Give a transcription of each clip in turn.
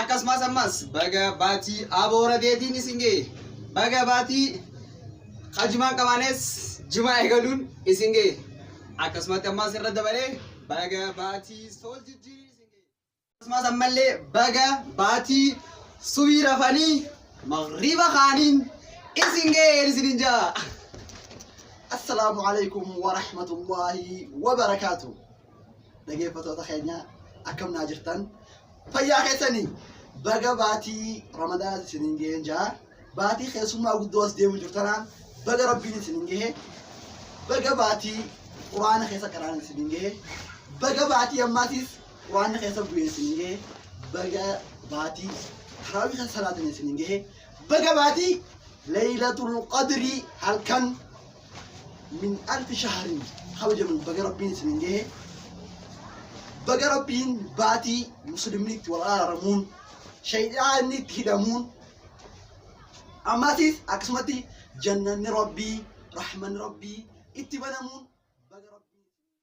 akkasumas ammas baga baatii aboo rabeetiin isin ga'e baga baatii kajumaan qabaanes jimaa eegaluun isin ga'e akkasumatti ammas irra dabalee baga baatii sool jijjiirii isin ga'e akkasumas ammallee baga baatii subii rafanii magriba kaaniin isin ga'e isinin jaa assalaamu alaikum warahmatullaahi wabarakaatuh dhageeffatoota keenya akkam naa jirtan fayyaa keessanii baga baatii ramadaana isiniin gaheen jaa baatii keessummaa guddoo as deemu jirtanaan baga rabbiin isiniin gahe baga baatii quraana keessa qaraan isiniin gahe baga baatii ammaatiis quraana keessa bu'ee isiniin gahe baga baatii taraawii keessa salaatan isiniin gahe baga baatii leeylatul qadrii halkan min alfi shahrin kabajaman baga rabbiin isin gahe baga rabbiin baatii muslimni itti wal araaramuun shayxaanni itti hidhamuun ammaatiif akkasumatti jannanni rabbii rahmanni rabbii itti banamuun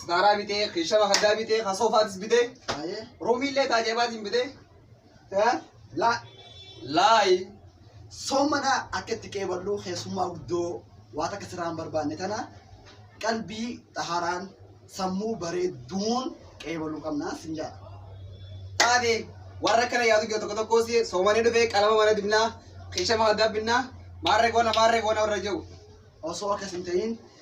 Sitaaraa bitee, keeshama haddaa bitee, kan soofaatis bitee, Ayee. roomiillee taajabaatiin bitee. Eh? Laa. Laayi. Soomana akka itti qeeballu keessummaa guddoo waan akka sirraa hin barbaanne tana qalbii xaharaan sammuu bareedduun qeebaluu qabna sin jedha. Taate warra kana yaadu jiru tokko tokkos soomanii dhufee qalama mana dibnaa, keeshama haddaa binnaa, maarree goona maarree goona warra jiru. Osoo akkas hin ta'in